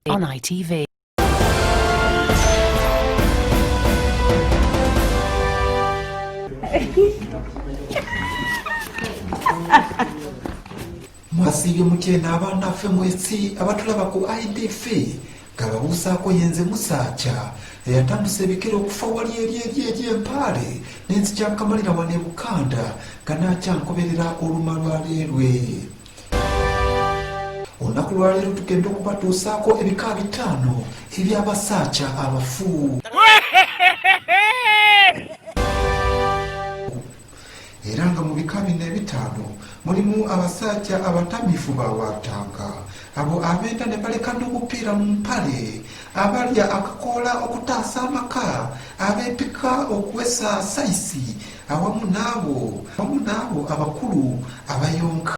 On ITV. mwasiibye mutya eno abaana ffe mwesi abatulaba ku idf Gababuusaako ye nze Musaakya eyatambuse ebikere okufa wali eri eri eri empaale ne nzikyankamalira wano e Bukanda nga naakyankoberera oluma lwa leerwe. Olunaku lwa leero tugenda okubatuusaako ebika bitaano eby'abasaakya abafu. era nga mu bika bino ebitaano mulimu abasajja abatamiifu ba waatanga abo abeenda ne baleka n'obupiira mu mpale abalya akakoola okutaasa amaka abeepika okuwesa sayisi awamu n'abo awamu n'abo abakulu abayonka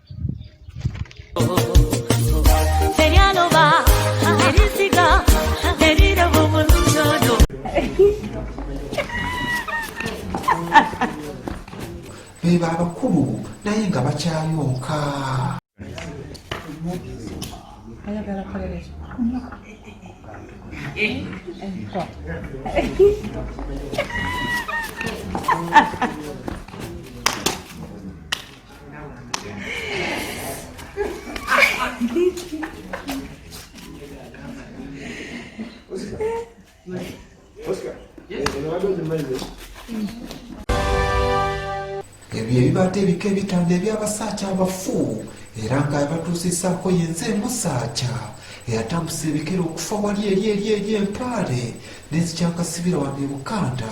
beba abakulu naye nga bakyayonka ebyo ebibadde ebika ebitanda eby'abasaaca abafu era nga abatuusisaako yenze emusaaca eyatambusa ebikere okufa wali eri eri eri empaale n'ezikyakasibira wano e bukanda